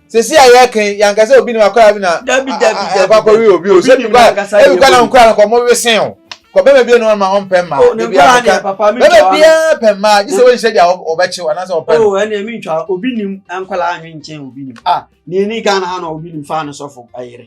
sisi a yɛ kan yan kasa obi ni ma kɔla bi na dabi dabi dabi ɛkɔ akɔwi obi o sɛ bi kɔ ebi kɔ na nkura no kɔ mo wesen o kɔ bɛma bi enu ma ɔn pɛ mma ebi akɔka bɛma bi pɛ mma gye sɛ wɔn nhyɛ di a ɔbɛ kyew anaasɛ ɔpɛ no. o oh, ɛna mi ntwa obi nim nkɔla anwi nkyɛn obi nim a ah, ni ni ghana ha na obi nim fa ne sɔfo ayere.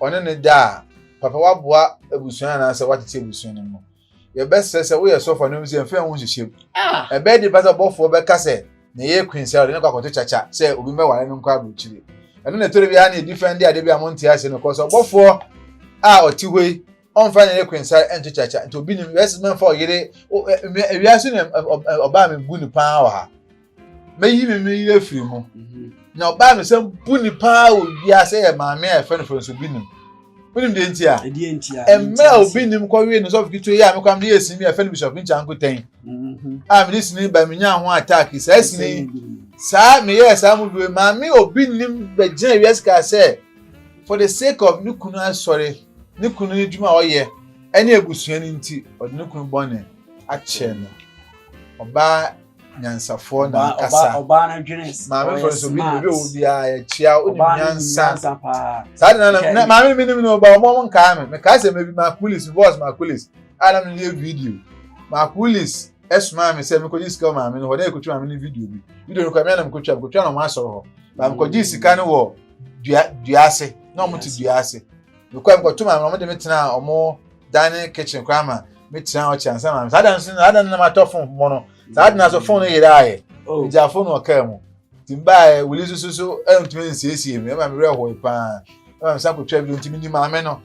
ɔne no da a, papa waboa abusua anaasɛ watete abusua no mu. Yɛbɛsrɛ sɛ woyɛ sɔfo anaa sɛ mfɛn ho nhyehyɛm. Ɛbɛyɛ de pa sɛ ɔbɔfoɔ bɛka sɛ na ɛyɛ Queen sɛ ɔde no kɔ akɔto kyakya sɛ obi mmɛware no nkɔ aburokyire. Ɛno na ɛtɔre biara na ɛdi fɛn de adeɛ bi a monte aseɛ no kɔ sɛ ɔbɔfoɔ a ɔte hɔ yi ɔmfa ne yere kwensare nto kyakya nti obi nim yɛsi mɛmfa ɔyere ewiase na ɔbaa mi bu ne paa wɔ ha mɛyi mi mi yere firi mu mhm. na ɔbaa mi sɛ bu ne paa wɔ wiase yɛ maame a yɛfrɛ no fɛ nso bi nim wonim deɛ nti a mmerɛ a obi nim kɔwee no sɔfo ketewa yi a mekɔam de yɛ sini bi a ɛfɛ no bishop nkya nkotɛn mhm. a mede sini ba menya ho attack saa sini saa meyɛɛ saa mu due maame obi nim bɛgyina wiase kaa sɛ for the sake of ne kunu asɔre ne kunu no adwuma a ɔyɛ ne abusua no nti, ɔde ne kunu bɔne akyɛ no. Ɔbaa nyansafoɔ na ankasa. Ɔbaa no dwene sɛ maame fɔlɔ so bi obi owo biara yɛ kyia o nim nyansa. Saa de na na maame no minim no ba ɔmo ɔmo nkaa me mekaa sɛ mebi makulis bɔs makulis a na meyɛ video makulis ɛsomaa me sɛ mekɔgye sika wɔ maame no hɔ na yɛkɔtwa maame no video bi video no kɔ ɛmɛ na mekɔtwa mekɔtwa na ɔmo asɔre hɔ na mekɔgye sika no wɔ. dua dua ase na wɔn te dua ase mekɔ mekɔ to maame na wɔn de me tena wɔn dining kitchen koraa ma me tena hɔ kyɛn sɛ maame saa dan so saa dan no na ma tɔ fon mo no saa dan so fon no yere ayɛ oh. gya fon no ɔkaa mu ti mbaa wuli soso so ɛntumi nsiesie mi ɛma mi werɛ hɔ paa ɛma mi san kɔ twɛ bi ntumi ni maame no.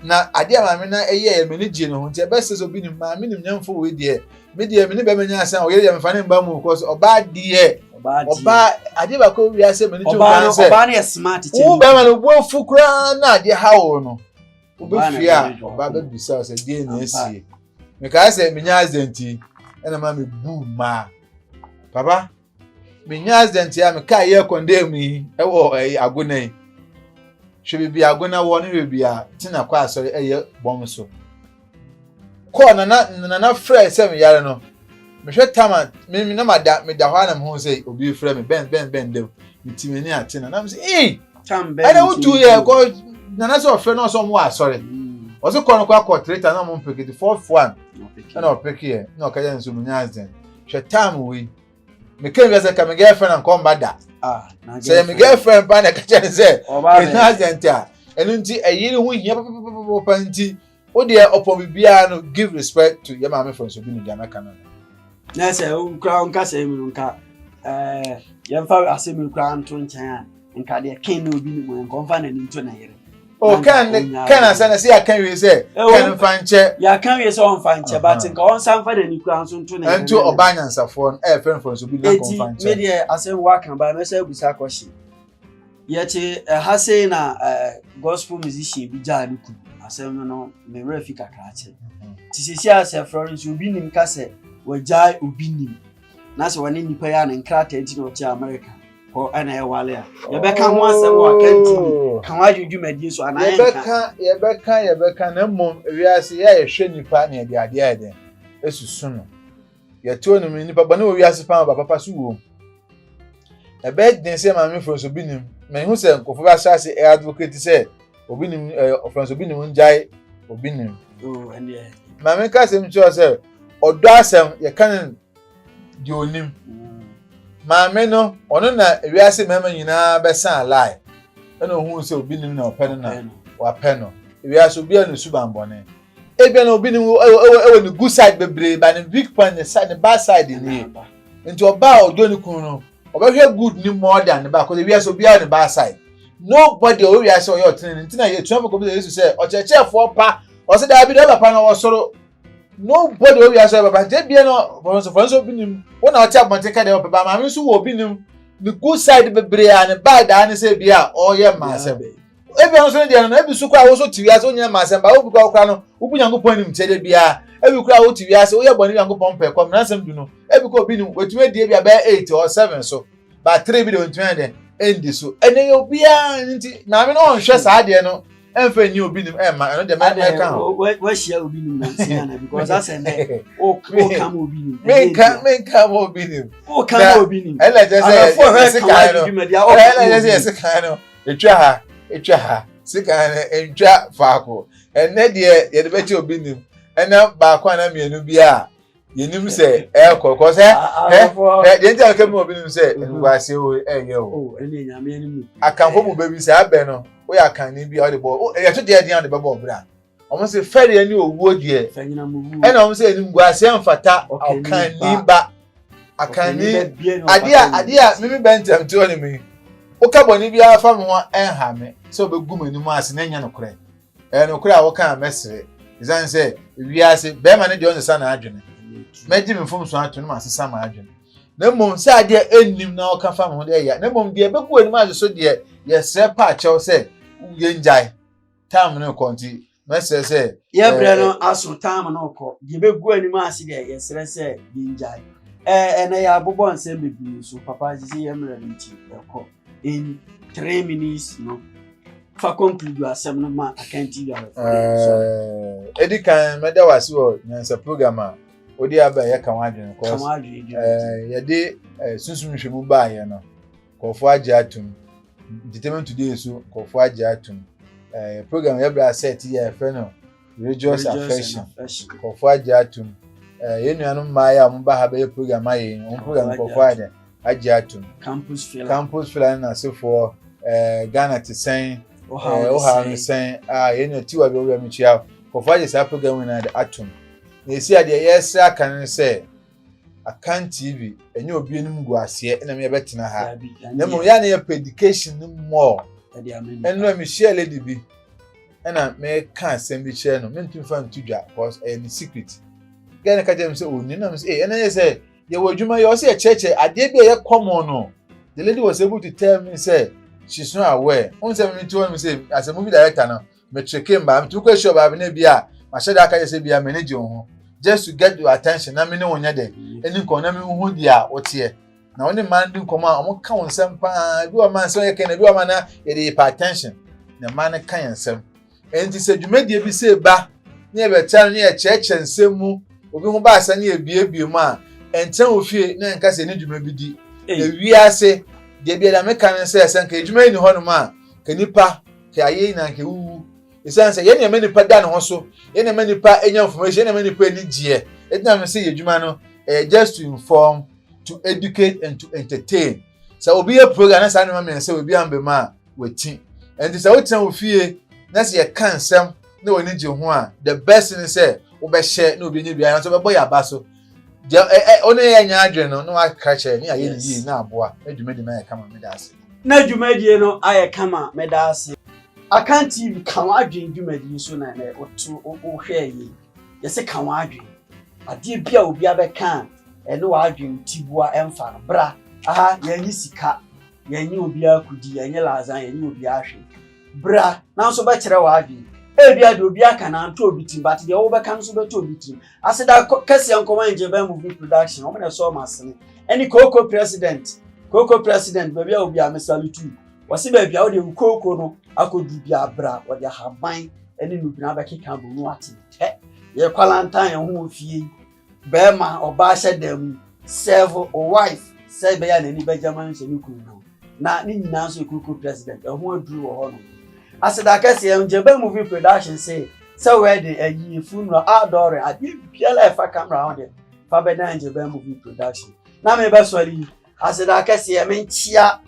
Na adeɛ a maame no yɛɛ m'ani gyee ne ho nti ɛbɛsɛ sɛ obi nim maame nim nyɛmfo wei deɛ me deɛ me ne bɛma nya asan ɔyere deɛ mefa ne mba mu kɔ so ɔbaa deɛ ɔbaa adeɛ baako wi ase m'ani gye ɔbaa no sɛ ɔbaa no yɛ smart kyɛn wo bɛma no bu afu koraa na adeɛ ha wo no wobɛfie a ɔbaa bɛbisa sɛ deɛ na asie mekaa sɛ menya accident ɛna ma mebu maa papa menya accident a me kaa yɛ kɔndɛɛ mu yi ɛwɔ ɛyi agona yi hwɛ beebi agona wɔ ne beebi a ti na kɔ asɔre ɛyɛ bɔn so kɔɔ nana nana frɛ sɛ me yare no mehwɛ tama me na ma da me da hɔ anam ho sɛ obi frɛ me bɛn bɛn bɛn dɛm me ti m'ani ate na nam sɛ ee ɛna wotu yɛ kɔ nana sɛ ɔfrɛ na ɔsɛ ɔmo wɔ asɔre ɔsɛ kɔɔ no kɔ akɔ three thousand na ɔmo mpeke ti four one ɛna ɔpeke yɛ na ɔka yɛ nso mo nya accident. hwɛ time wei meka nka sɛ ka me girlfriend anka ɔmba da ah, sɛ me girlfriend paa na ɛka kyɛ ne sɛ ɛnya agent a ɛno nti ɛyere ho hia papapapapa nti wo deɛ ɔpɔn biribiara no give respect to yɛ maame fo nso bi ne deɛ mɛka no na sɛ wokura wo nkasɛm no nka yɛmfa asɛm yi koraa nto nkyɛn a nka deɛ ken na obi nim nka ɔmfa n'ani nto ne yere o ken ken asɛ na sɛ yɛaka wie sɛ ken mfa nkyɛ yɛaka wie sɛ ɔmfa nkyɛ but nka ɔnsa mfa n'ani kura nso nto ne yere nti ɔbaa nyansafoɔ no ɛyɛ fɛn fɛn so bi na nka ɔmfa nkyɛ eti medeɛ asɛm waka ba mɛsɛ abusa kɔhye yɛte ɛha sei na gospel musician bi gyaa ne kunu asɛm no no me werɛ fi kakra kyɛ ti sisi asɛ florence obi nim ka sɛ wɔgyae obi nim na sɛ wɔne nnipa yi a ne nkrataa nti na ɔte amerika kɔ ɛna ɛwale a yɛbɛka ho asɛm wɔ akanti oh. ka ho adwo dwumadie so anaa yɛbɛka yɛbɛka yɛbɛka na mmom wiase yɛ a yɛhwɛ nnipa ne yɛde adeɛ ayɛ dɛn ɛsusu no yɛte hɔ nom nnipa bɔne wɔ wiase paa ba papa so wom ɛbɛyɛ den sɛ maamefoɔ nso bi nim mahu sɛ nkurɔfoɔ bi ahyɛ ase ɛyɛ advocate sɛ obi nim ɛɛ ɔfɛn so obi nim ngyae obi nim. Oh, maame ka asɛm kyerɛ sɛ ɔdɔ asɛm yɛka ne deɛ onim mm. maame no ɔno na ewiase mmarima nyinaa bɛsan alae ɛna ohun sɛ obi nim na ɔpɛ no na wapɛ no ewiase obi a na esu bambɔne ebien na obi nim ɛwɔ ɛwɔ ɛwɔ ne good side bebree ba ne weak point ne side ne bad side nie nti ɔbaa ɔdɔ ne kunu no Ɔbɛhwɛ good ni more than ne ba, cause wiase obiara ne bad side. Nobody ɔwɔ wiase ɔyɛ ɔtene ne ntina yɛ etuafo kɔbisa Yesu sɛ ɔkyerɛkyerɛfoɔ pa, ɔsɛ daabi deɛ ɔba pa na ɔwɔ soro. Nobody ɔwɔ wiase ɔyɛ papa nti ebia no fɔnsofoɔ nso obi nim wɔn na ɔte abɔnten ka deɛ ɔpɛ ba maame nso wɔ obi nim ne good side bebree a ne bad daa ne sɛ ebia ɔyɛ mmaa asɛm. ebi ɔno nso ne deɛ no ebi nso koraa woso te wiase wonyɛ ma asɛm ba obi koraa koraa no wobu nyankopɔn anim tiɛ de biara ebi koraa wote wiase woyɛ bɔne nyankopɔn pɛ kɔm nansɛm du no ebi kɔ obi nim wetumi adie bi abɛyɛ eight or seven so ba three bi de ontumi ayɛ dɛn ɛndi so ɛnna ɛyɛ obiara ne nti maame no ɔnhwɛ saa adeɛ no ɛnfɛ nni obi nim ɛmma ɛno deɛ mɛka ho wahyia obi nim nansi ana because asɛn dɛ ɔka ma obi nim menka menka ma obi nim ɔka ma obi nim ɛnna kyɛ sɛ yɛse kan no ɛnna kyɛ sɛ yɛse kan no Ɛtwa ha, ɛtwa ha. Sika no ɛntwa faako. Ɛnnɛ deɛ yɛde bɛkyɛ obi nim. Ɛna baako ana mmienu bi a yɛnim sɛ ɛrekɔ kɔ sɛ ɛ deɛ nti a kɛmi obi nim sɛ nkwasi o ɛyɛ o. Akanfo mu bɛbi sɛ abɛ no woyɛ akanni bi a wɔde bɔ ɛyɛ to deɛ ɛdeɛ a wɔde bɛbɔ ɔbra. wɔn se fɛreɛ ne owuo deɛ ɛna wɔn sɛ animguaseɛ mfata ɔkanni ba akanni adeɛ a adeɛ a mimi bɛ ntɛm te ɔne mi woka bɔne biara fa me ho ɛnha me sɛ wobɛgu m'anim ase na ɛnyɛ nokorɛ ɛyɛ nokorɛ a woka a mɛsere ɛsiane sɛ wiase bɛrima no deɛ ɔnsesa n'adwene mɛgye me mfomso ato no ma asesa m'adwene na mmom sɛ adeɛ ɛnnim na ɔka fa me ho deɛ ɛyɛ na mmom deɛ ɛbɛgu anim ase so deɛ yɛsrɛ pa akyɛw sɛ yɛngyae time no kɔ nti mɛsrɛ sɛ yɛ eh, berɛ no eh, aso time no kɔ deɛ bɛgu anim ase deɛ yɛsrɛ sɛ yɛngyae eh, ɛnɛ yɛabobɔ nsɛm bebree so papa gye sɛ yɛ mmerɛ no nti ɛkɔ in three minutes no fa conclude asɛm no ma akanti yɛrefo ɛdi kan mɛda wo ase wɔ nyansa program a wode aba yɛka ho adwene kɔ yɛde sunsum nhwɛ mu baayɛ no Nkurɔfoɔ agye atom. Entertainment Today so nkurɔfoɔ agye atom. Eh, program yɛ bra set yɛ ɛfrɛ no religious affection. Nkurɔfoɔ agye atom. Eh, yɛn nuanom mmaayɛ a wɔn ba ha bɛyɛ program ayɛ yɛn. Wɔn program nkurɔfoɔ ayɛ dɛ agye atom. Campus Fela. Campus Fela ne n'asefoɔ eh, Ghana te sɛn. Ohaw eh, ohaw ne sɛn. Ah, yɛn nua tiwa bi ɔwura mi kyia. Nkurɔfoɔ agye saa program nyinaa de atom. Na esi adeɛ yɛsrɛ aka no sɛ. Akan TV ɛnyɛ obi anim gu aseɛ ɛna mi ɛbɛtena ha na mmom yɛ a na yɛpɛ education no more ɛno na mehyia lady bi ɛna meka asɛm bi kyerɛ no mentumi fa nto dwa because ɛyɛ ne secret gɛɛ no ka kyerɛ me sɛ ɔnim na me sɛ ɛna yɛ sɛ yɛwɔ adwuma yɛ ɔsɛ yɛkyerɛkyerɛ adeɛ bi a ɛyɛ common no the lady was able to tell me sɛ she's not aware n sɛ mete hɔ no me sɛ as a movie director no Me tricky mba, me tumi kɔ ehyia ɔbaa bi na ebi a, ma hyɛ da aka yɛ sɛ ebi a, m'ani gye wo ho. Just to get your attention na me ne wo nyɛ dɛ, ɛni nkɔn na me nhu di a woteɛ. Na wo ne mmaa ndi nkɔm a, wɔn ka wo nsɛm paa, ebi wɔ mmaa nsɛm yɛ kɛn na ebi wɔ mmaa na yɛde yɛ pa attention. Na mmaa no ka yɛn nsɛm. Enti sɛ dwumadie bi sɛ ba, ne yɛ bɛ tra no, ne yɛ kyerɛkyerɛ nsɛm mu, obi ho ba asɛ ne yɛ biebie mu a, ɛntra wo fie na ɛnka sɛ ɛni dwuma bi di. Na wiase, deɛ biara me ka ne sɛ, sɛ nka edwuma yi ni hɔ nom a, nka nipa, Nka yɛayɛ yi na nka ewuwu. Esiane sɛ yɛn nneɛma nipa da ne ho so, yɛn nneɛma nipa nya information, yɛn nneɛma nipa ani gyeɛ. Eti na me se yɛ adwuma no ɛyɛ just to inform, to educate and to entertain. Sɛ obi yɛ program na saa nneɛma mmiɛnsa wɔ ebi ambɛ mu a, wati. Ɛnti sɛ wotena wo fie na sɛ yɛka nsɛm na w'ani gye ho a, the best ne sɛ wobɛhyɛ na obi anya biara nanso wobɛbɔ yɛ aba so. deɛ ɛ ɛ ɔne yɛ nya adwene no na waka kyerɛ ne ayɛ ne yie na aboa na dwumadi no ayɛ kama meda ase. Na dwumadie no ayɛ kama meda ase. Akan TV ka w'adwene dwumadi yi so na na woto wohwɛɛ yie yɛse ka w'adwene adeɛ bi a obia bɛka a ɛne w'adwene tiboa ɛmfa no bra aha yɛnye sika yɛnye obia kudi yɛnye laza yɛnye obia hwee. Bra na nso bɛkyerɛ w'adwene. Ebia deɛ obi aka no anto obi tirim but deɛ wobɛka no nso bɛto obi tirim. Aseda kɛseɛ nkɔma Engyebɛn Movie Production, wɔn na ɛsɔɔ m'asene. Ɛne Kooko President, Kooko President baabi a obi a me salute you. Wɔse baabi a wode wo kooko no akɔduru biara bra, wɔde ahaban ne nnubena bɛkeka abom na woate ntɛ. Yɛkwalantan yɛn ho wɔ fie yi. Bɛɛma ɔbaa hyɛ da mu sɛɛvo o wife sɛɛ bɛyɛ a nani bɛgya ma nhyɛ ne kunu no na ne nyinaa nso yɛ kuruku president ɛho aduru wɔ hɔ nom aseda kɛseɛ ngyeba movie production se sɛ wedding ayie funeral outdooring adeɛ biara ɛfa camera ho deɛ fa bɛda ngyeba movie production na mebɛsɔre yi Aseda kɛseɛ menkyia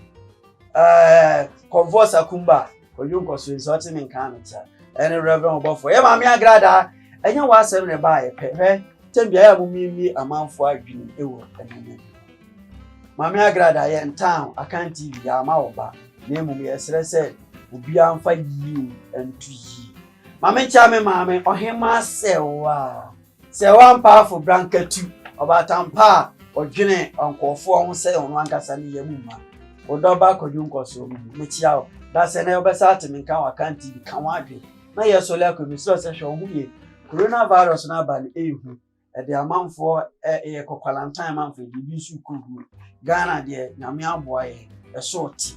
ɛɛ kɔnfɔɔ sakumba kɔdwo nkɔsoe nsɛ ɔte me nkaa me tia ɛne reverend ɔbɔfoɔ yɛ maame agradaa ɛnyɛ wɔ asɛm na ɛbaa yɛ pɛ hwɛ tɛm biara mo miemie amanfoɔ adwene ɛwɔ ɛnɛnɛ maame agradaa yɛ ntan akan tv yɛ ama wɔ ba na mmom yɛ srɛ sɛ obiara mfa yie nto yie maame nkyia me maame ɔhemaa sɛ waa Sɛ wɔampa afobra ankatu ɔbaatan pa a odwene nkurɔfoɔ ho sɛ ɔno ankasa ne yam mma, wo Dɔba akɔdwo nkɔsoɔ mu mu. Mekyea wo. Dasɛ na wobɛsa ate me nka wɔ Akan TV. Ka w'adwene. Na yɛ sɔle akɔ yi. Mesrɛ wo sɛ hwɛ wo ho yie. Corona virus no aba no ɛyɛ hu. Ɛde amanfoɔ ɛ, ɛyɛ kɔ kwalantan amanfoɔ ɛde ebi nso rekɔ wuo. Ghana deɛ Nyame aboa yɛn. Ɛso ɔte.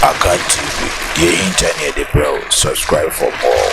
Akan TV, deɛ ɛhinta ne yɛde brɛ wo, subscribe for more.